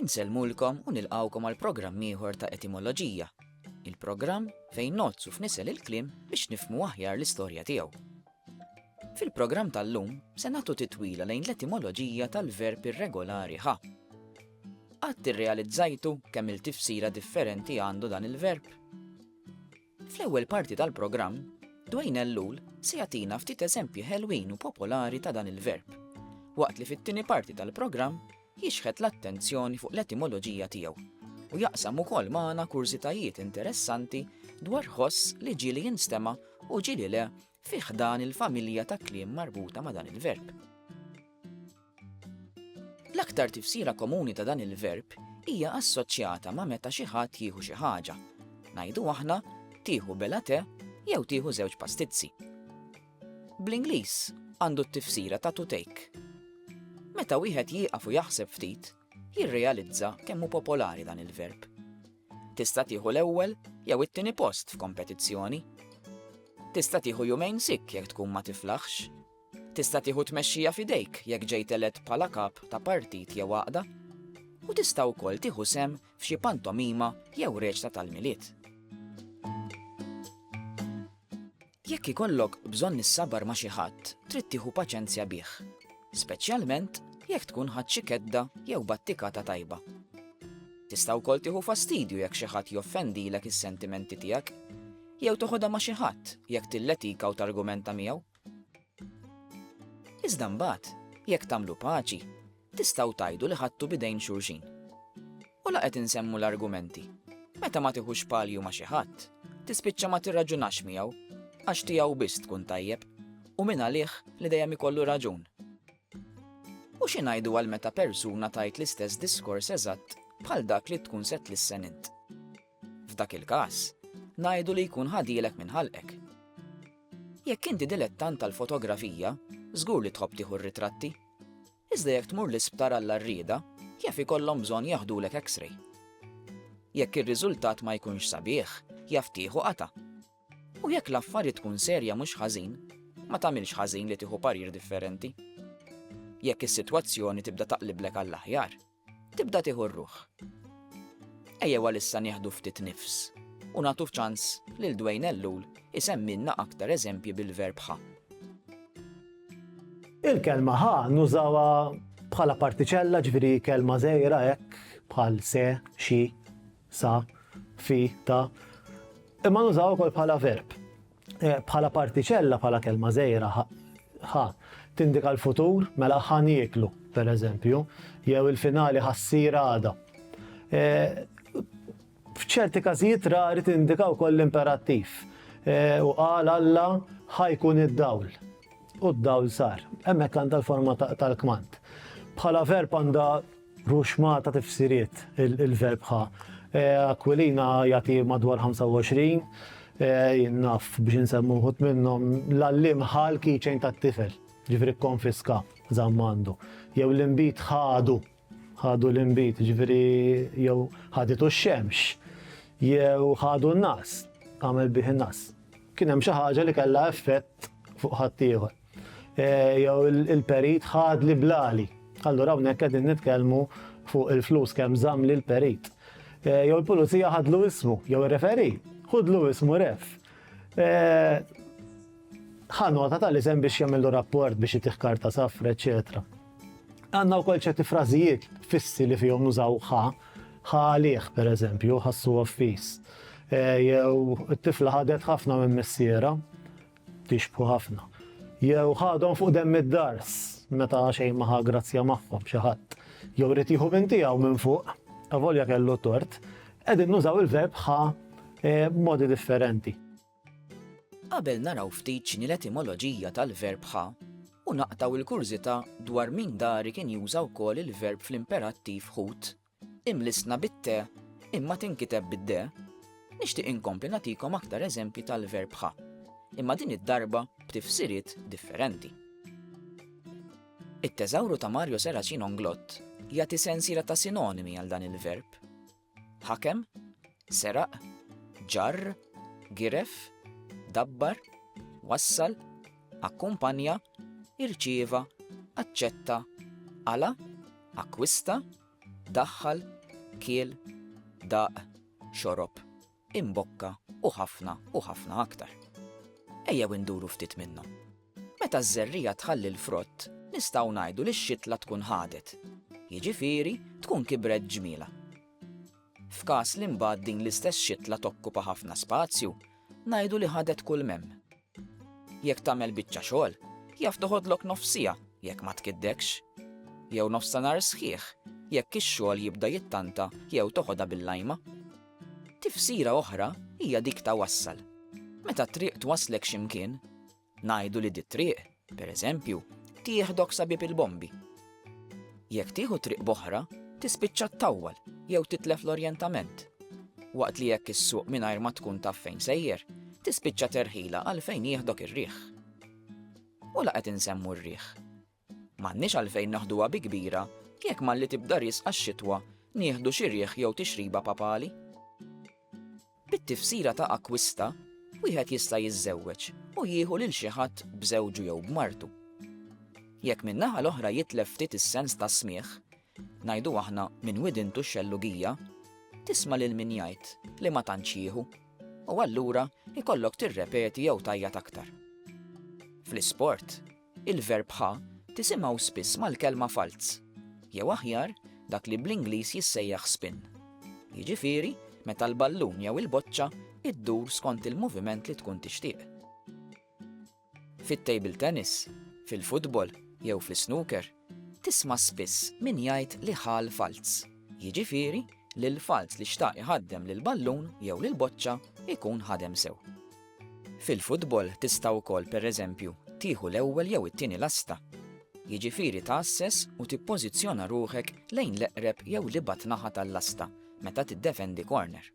Insellmulkom u nilqgħukom għal programm ieħor ta' Etimoloġija, il-programm fejn nozzu f'nisel il-kliem biex nifhmu aħjar l-istorja tiegħu. Fil-programm tal-lum se nagħtu titwila lejn l-etimoloġija tal-verb irregolari ħa. Qatt irrealizzajtu kemm il-tifsira differenti għandu dan il-verb? Fl-ewwel parti tal-programm, Dwayne Ellul se jagħtina ftit eżempji ħelwin u popolari ta' dan il-verb, waqt li fit-tieni parti tal-programm jixħet l-attenzjoni fuq l-etimoloġija tiegħu u jaqsam ukoll magħna kurżitajiet interessanti dwar ħoss li ġieli jinstema' u ġieli le fi ħdan il-familja ta' kliem marbuta ma' dan il-verb. L-aktar tifsira komuni ta' dan il-verb hija assoċjata ma' meta xi ħadd jieħu xi ħaġa. Ngħidu aħna tieħu bela te jew tieħu żewġ pastizzi. Bl-Ingliż għandu t-tifsira ta' to take. Meta wieħed jieqaf u jaħseb ftit, jirrealizza kemm hu popolari dan il-verb. Tista' tieħu l-ewwel jew it-tieni post f'kompetizzjoni. Tista' tieħu jumejn sik jekk tkun ma tiflaħx. Tista' tieħu t-tmexxija f'idejk jekk ġejt elett bħala kap ta' partit jew għaqda, u tista' wkoll tieħu sehem f'xi pantomima jew reċta tal-Milied. Jekk ikollok bżonn issabar ma' xi ħadd, trid tieħu paċenzja bih, speċjalment jekk tkun ħadt xi kedda jew battikata tajba. Tista' wkoll tieħu fastidju jekk xi ħadd joffendilek is-sentimenti tiegħek, jew toħodha ma' xi ħadd jekk tilletika u targumenta miegħu. Iżda mbagħad, jekk tagħmlu paċi, tistgħu tgħidu li ħadtu bidejn xulxin. U la qed insemmu l-argumenti. Meta ma tiħux palju ma xi ħadd, tispiċċa ma tirraġunax miegħu għax tiegħu biss tkun tajjeb u minn għalih li dejjem ikollu raġun. U xi ngħidu għal meta persuna tajt l-istess diskors eżatt bħal dak li tkun se tlissen int. F'dak il-każ, ngħidu li jkun ħadielek minn ħalqek. Jekk inti dilettant tal-fotografija, żgur li tħobb tieħu r-ritratti. Iżda jekk tmur l-isptar għall-għarrieda, jaf ikollhom bżonn jaħdulek X-ray. Jekk ir-riżultat ma jkunx sabiħ, jaf tieħu qata'. U jekk l-affarijiet tkun serja mhux ħażin, ma tagħmilx ħażin li tieħu parir differenti. Jekk is-sitwazzjoni tibda taqliblek għall-aħjar, Tibda tieħu r-ruħ. Ejjew għalissa nieħdu ftit nifs u nagħtu ċans lil Dwayne Ellul isemmilna aktar eżempji bil-verb ħa. Il-kelma ħa nużawha bħala partiċella ġifieri kelma żgħira hekk bħal se, xi, sa, fi, ta. Imma nużaw ukoll bħala verb. Bħala partiċella, bħala kelma żgħira, ħa tindika l-futur, mela ħa nieklu, per eżempju, jew il-finali ħassir għada. E, f'ċerti każijiet rari tindika wkoll l-imperattiv. E, u qal Alla ħajkun id-dawl. U d-dawl sar. Hemmhekk għandha l-forma tal-kmand. Bħala verb għandha Rux ma ta tifsiriet il-verb ħa. Aquilina jagħti madwar 25, jien naf biex insemmu wħud minnhom l-għalliem ħa l-keychain tat-tifel, ġifieri kkonfiska, żamm għandu. Jew l-inbid ħadu, ħadu l-inbid, ġifieri jew ħaditu x-xemx, jew ħadu n-nas, għamel bih in-nas. Kien hemm xi ħaġa li kellha effett fuq ħaddieħor. jew il-perit ħadli blali. Allura hawnhekk qegħdin nitkellmu fuq il-flus kemm żamm lil perit. Eh, jew il-pulizija ħadlu ismu, jew ir-referi, ħudlu ismu ref. Eh, ħanota tal-isem biex jagħmlu rapport biex jitih karta safra, eċetera. Għandna wkoll ċerti frażijiet fissi li fihom nużaw ħa, ħa għalih pereżempju, ħassu offis. Eh, jew it-tifla ħadet ħafna minn missiera, Jixbħu ħafna. Jew ħadhom fuq demm id-dars meta xejn ma ħa grazzja magħhom xi ħadd. Jew rid jieħu minn tiegħu minn fuq, avolja kellu tort, qegħdin nużaw il-verb ħa eh, modi differenti. Qabel naraw ftit x'inhi l-etimoloġija tal-verb ħa, u naqtaw il-kurżità dwar min dari kien juża wkoll il-verb fl-imperattiv ħut Imlissna bit-te, imma tinkiteb bid-de, nixtieq inkompli nagħtikom aktar eżempji tal-verb ħa, imma din id-darba b'tifsiriet differenti. It-teżawru ta' Mario Seracin Onglott jagħti sensiela ta' sinonimi għal dan il-verb. Ħakem, Seraq, ġarr, giref, dabbar, wassal, akkumpanja, irċieva, aċċetta, qala, akkwista, daħħal, kiel, daq, xorob, imbokka u ħafna u ħafna aktar. Ejjew induru ftit minnhom. Meta ż-żerrija tħalli l-frott, nistgħu ngħidu li x-xitla tkun ħadet. Jiġifieri tkun kibret ġmiela. F'każ li mbagħad din l-istess xitla tokkupa ħafna spazju, ngħidu li ħadet kull m'hemm. Jekk tagħmel biċċa xogħol, jaf toħodlok nofs siegħa jekk ma tkiddekx, jew nofsanhar sħiħ jekk ix-xogħol jibda jittanta jew toħodha bil-lajma. Tifsira oħra hija dik ta' wassal. Meta t-triq twasslek xi mkien, Ngħidu li dit-triq, pereżempju, tieħdok sa Bieb il-Bombi. Jekk tieħu triq b'oħra, tispiċċa ttawwal jew titlef l-orjentament. Waqt li jekk issuq mingħajr ma tkun taf fejn sejjer, tispiċċa terħila għal fejn jieħdok ir-riħ. U la qed insemmu r-riħ. M'għandniex għalfejn naħduha bi kbira jekk malli tibda riesqa x-xitwa nieħdu xi riħ jew tixriba papali. Bit-tifsira ta' akkwista, wieħed jista' jiżżewweġ u jieħu lil xi ħadd b'żewġu jew b'martu. Jekk min-naħa l-oħra jitlef ftit is-sens tas-smigħ, ngħidu aħna minn widintu x-xellugija, tisma' lil min jgħid li ma tantx jieħu, u allura jkollok tirrepeti jew tajjat aktar. Fl-isport, Il-verbħa tisimgħu spiss mal-kelma falz, jew aħjar, dak li bl-Ingliż jissejjaħ spin. Jiġifieri, meta l-ballun jew il-boċċa iddur skont il-moviment li tkun tixtieq. Fit-table tennis, fil-futbol jew fl-snooker, Tisma' spiss min jgħid li ħa l-falz. Jiġifieri li l-falz li xtaq iħaddem lill-ballun jew lill-boċċa jkun ħadem sew. Fil-futbol tista' wkoll pereżempju tieħu l-ewwel jew it-tieni lasta. Jiġifieri tgħasses u tippożizzjona ruħek lejn l-eqreb jew l-ibgħad naħa tal-lasta meta tiddefendi korner.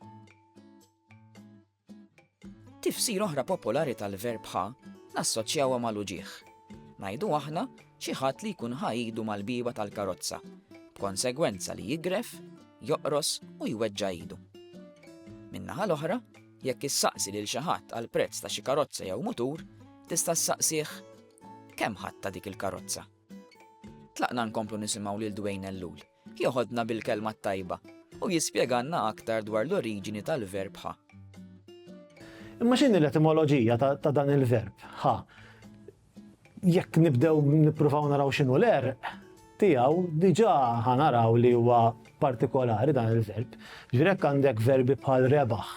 Tifsira oħra popolari tal-verb ħa nassoċjawha mal-uġigħ. Ngħidu aħna xi ħadd li jkun ħa idu mal-bieba tal-karozza, b'konsegwenza li jigref, joqros u jweġġa' idu. Min-naħa l-oħra, jekk issaqsi lil xi ħadd għal prezz ta' xi karozza jew mutur, tista' ssaqsih kemm ħadd ta' dik il-karozza. Tlaqna nkomplu nisimgħu lil Dwayne Ellul. Jogħodna bil-kelma t-tajba u jispjegalna aktar dwar l-oriġini tal-verb ħa. Imma x'inhi l-etimoloġija ta' dan il-verb ħa? Jekk nibdew nippruvaw naraw x'inhu l-erq tiegħu, diġà ħa naraw li huwa partikolari dan il-verb. Ġvirek għandek verbi bħal rebaħ,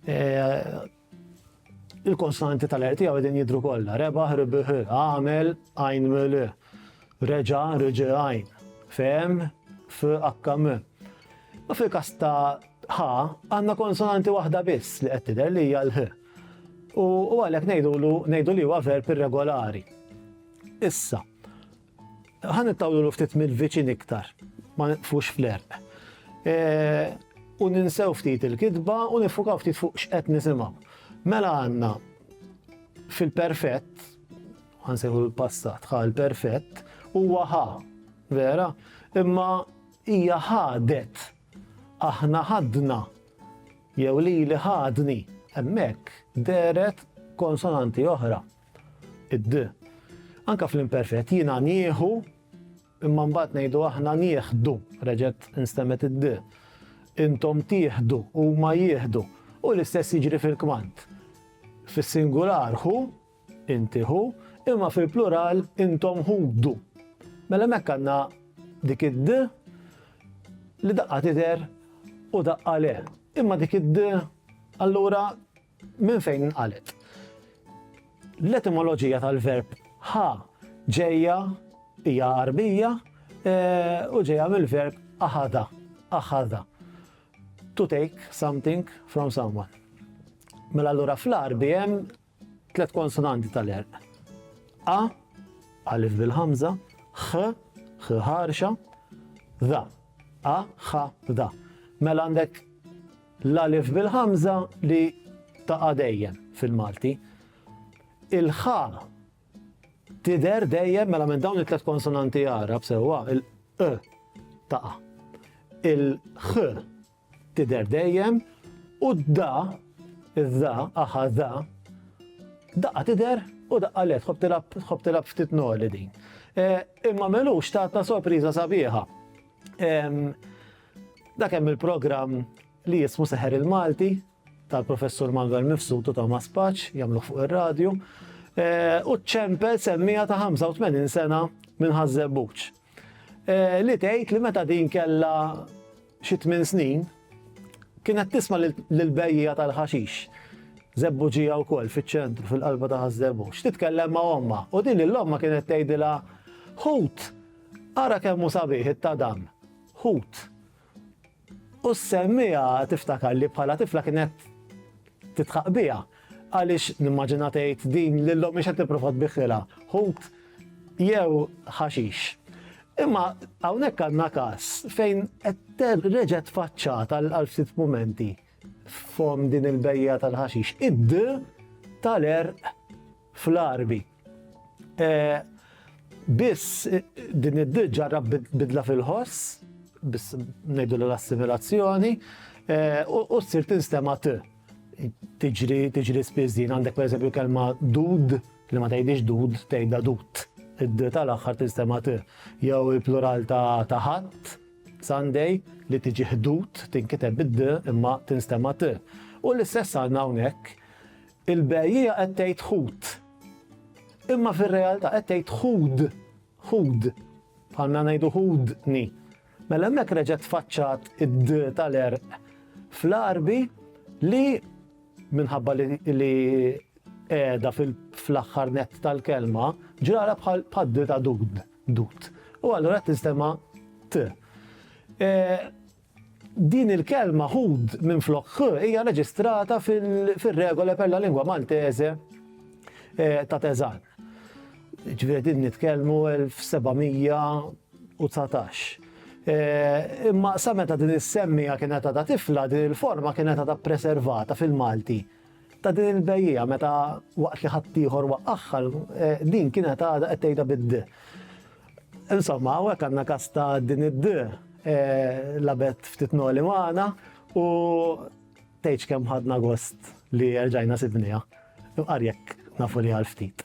eh, Il-konsonanti tal-RT għaw għedin jidru kolla. Rebaħ, ribiħ, għamel, għajn mili, reġa, reġi għajn, fem, f, akkam. Ma fil kas ta' ħa, għanna konsonanti wahda biss li għettider li hija l-ħ. U għalek nejdu li huwa verb irregolari. Issa, Ħa nittawlu ftit mill-viċin iktar, ma nitfux fl-erq. U ninsew ftit il-kitba u nifukaw ftit fuq x'qed nisimgħu. Mela għandna fil-perfett, ħansejħu l-passat, ħa l-perfett, huwa ħa, vera, imma hija ħadet, aħna ħadna, jew lili ħadni, hemmhekk dehret konsonanti oħra, Id. Anke fl-imperfett, jiena nieħu, imma mbagħad ngħidu aħna nieħdu, reġgħet instemmet id. Intom tieħdu, huma jieħdu. U l-istess jiġri fil-kmand. Fis-singular hu, inti hu, imma fil-plural intom ħudu. Mela mekk għandna dik id li daqqa tidher u daqqa le. Imma dik id allura Minn fejn inqalgħet? L-etimoloġija tal-verb ħa ġejja hija Għarbija u ġejja mill-verb aħada, aħada. To take something from someone. Mela allura fl-Għarbi hemm tliet konsonanti tal-erq. A, alif bil-ħamza, ħ, ħ ħarxa, dha. A, ħa, dha. Mela għandek L-alif bil-ħamża li taqa' dejjem fil-Malti. Il-ħa tidher dejjem mela minn dawn it-tliet konsonanti Għarab sewwa il-q taqa'. Il-ħ tidher dejjem u d-da, id-da, aħa da, daqqa tidher u daqqa le tħobb tilab ftit noli din. E, imma melux tatna sorpriża sabiħa. Dak hemm il-programm li jismu Seħer il-Malti tal-Professur Manuel Mifsud u Thomas Paċ jagħmluh fuq ir-radju. Eh, u ċempel semmija ta' 85 sena minn Ħażżebbuċ. Eh, li tgħid li meta din kella xi tmien snin kienet tisma' lill-bejja tal-ħaxix. Zebbuġija u kol fil-ċentru, fil-qalba ta' Ħażżebbuċ. Titkellem ma' omma. U din l-omma kienet tgħidilha ħut Ara kemm hu sabiħ it-tadam, ħut. U s-semmiegħa tiftakar li bħala tifla kienet titħaq biha għaliex nimmaġina tgħid din lil ommi xed tipprova tbiħħilha ħut jew ħaxix. Imma hawnhekk għandna każ fejn qed reġgħet faċċata għal ftit mumenti f'hom din il-bejja tal-ħaxix. Id tal-erq fl-Għarbi. Biss din id-ditt ġarrab bidla fil-ħoss, biss ngħidu l-assimilazzjoni, u ssir tinstema' t. Tiġri, tiġri spiss din, għandek pereżempju l-kelma dud, li ma tgħidhiex dud, tgħidha dut. Id-d tal-aħħar tinstema' t. Jew il-plural ta' Ħadd, Sunday, li tiġi ħdud, tinkiteb bid-d imma tinstema' t. U l-istess għandna hawnhekk, Il-bejjiegħa qed tgħid ħut. Imma fir-realtà qed tgħid ħud, ħud, bħalna ngħidu ħudni. Mela hemmhekk reġgħet tfaċċat id tal-erq fl-arbi li minħabba li qiegħda fl-aħħar nett tal-kelma ġrara bħal paddi ta' dud, dud. U allura tistema t. E, Din il-kelma hud minflok h hija reġistrata fir-Regole per la lingua maltese ta' Teżan. Ġifieri qegħdin nitkellmu 1719. Imma sa meta din is-semmija kienet għadha tifla, din il-forma kienet għadha ppreservata fil-Malti. Ta' din il-bejjiegħa meta waqt li ħaddieħor waqqagħha, din kienet għadha qed tgħidha bid-d. Insomma, hawnhekk għandna każ ta' din id-d lagħbet ftit noli magħna u tgħidx kemm ħadna gost li erġajna sibniha. Imqar jekk nafu li għal ftit.